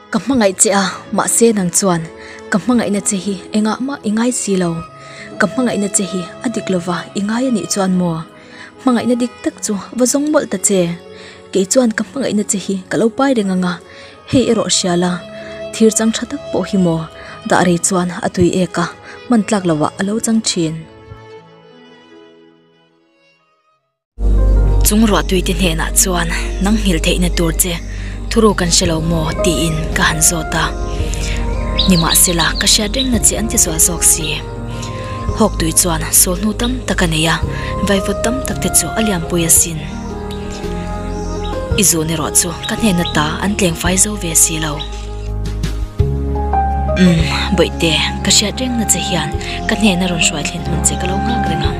Ka hmangaih che a, mahse nang chuan ka hmangaihna che hi engah mah i ngai si lo. Ka hmangaihna che hi a dik lova i ngai a nih chuan maw? Hmangaihna dik tak chu va zawng mawlh ta che. Kei chuan ka hmangaihna che hi ka lo pai reng ang a, hei erawh hria la, thir chang tha tak pawh hi maw, dah rei chuan a tui ek a, hman tlak lo ah a lo chang thin. Chung ruahtui te hnenah chuan nang nghil theih na tur che thuru kan hre lo maw tiin ka han zawt a, nimahsela ka hriat reng na che an ti zual zawk si. Hawk tui chuan sawlhnu tam tak a nei a, vaivut tam tak te chu a lianpui a sin. I zawhna erawh chu ka hnena ta an tlengfai zo ve si lo. Umm, Bawihte, ka hriat reng na che hian ka hnena rawn hruai thlen hun che ka lo nghak reng ang.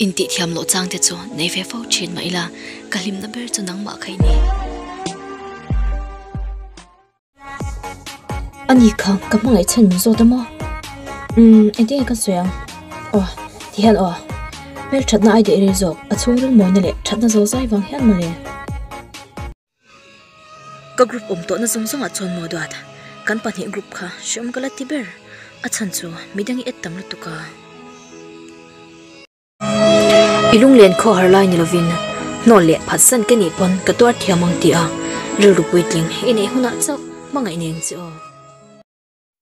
Intihthiam loh chang te chu nei ve fo thin mah ila, ka hlimna ber chu nangmah kha i ni. A ni kha, ka hmangaih chhan min zawt a maw? Umm, engtin nge kan sawi ang? Aww, ti hian aww. Hmelthatna ai deh rei zawk, a chhung rilmawina leh thatna zolzai vang hian maw le? Ka group awm tawhna zawng zawngah chuan Mawduat kan pahnih group kha hriawm ka la ti ber. A chhan chu midang i add tam lutuk a. I lunglen khaw har lai ni lovin hnawl leh phatsan ke nih pawn ka tuar thiam ang ti a. Rilru puitling i neih hunah chauh hmangaih ni ang che aw.